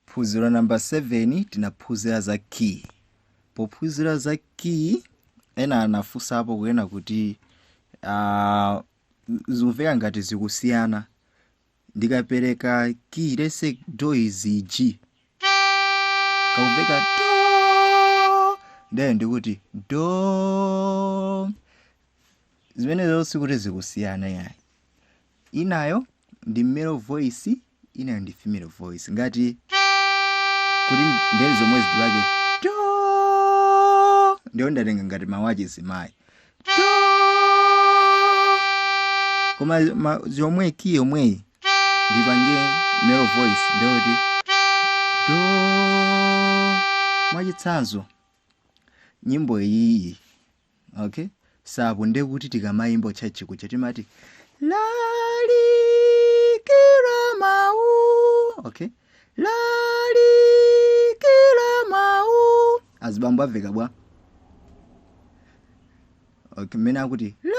Phunziro namba 7 tinaphunzira za kiyi. Pophunzira za kiyi ena anafunsapo kunena kuti ah, zikumveka ngati zikusiyana ndikapereka kiyi let's say do is g akumveka do then ndiye kuti do zimenezo sikuti zikusiyana yayi Inayo ndi male voice, inayo ndi female voice. Ngati kuti ndeni zomwezi tu lake do ndiye ndatenga ngati mawu achizimayi do koma ma- zomwe kiyi yomweyi ndipange male voice ndiye kuti do mwachitsanzo nyimbo iyiyi okay so ndekuti tikamayimba church kuja timati lalikira mawu okay lalikira mawu azibambo amveka bwa okay mmene akuti la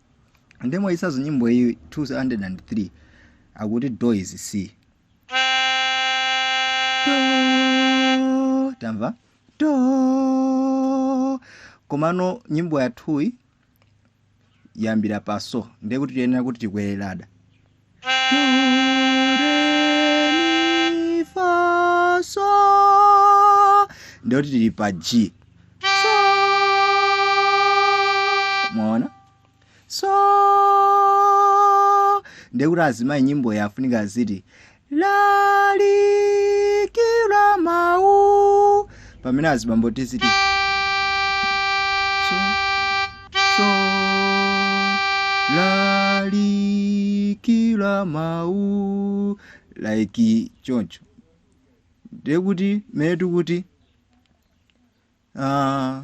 ndiye mwachitsanzo nyimbo iyi 203 akuti do is c do mwamva do komano nyimbo yathuyi yayambira pa so ndiye kuti tiyenera kuti tikwere ladder ndiye kuti tili pa g mwaona so ndekuti azimayi nyimboyi afunika aziti lalikira mawu pamene azibambo tiziti so, so, lalikira mawu like choncho ndekuti mmene tikuti ah,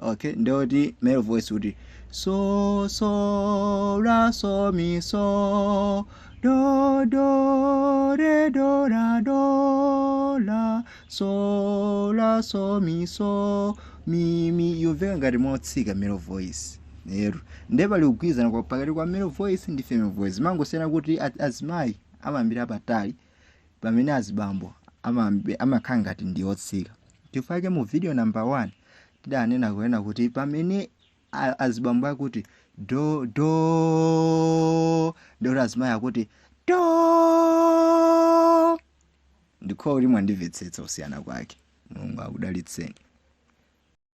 Okay, nde kuti male voice kuti so so ra so mi so do do re do ra do la so la so mi so mi mi yomveka ngati motsika male voice ero nde pali kugwirizana kwa- pakati kwa male voice ndi female voice mangosiyana kuti a- azimayi amayambira patali pamene azibambo amambe- amakhala ngati ndi otsika chifukwa chake mu video number 1 tidanena kunena kuti pamene a- azibambo akuti do do ndiye kuti azimayi akuti do ndikhulupirira kuti mwandimvetsetsa kusiyana kwake mulungu akudalitseni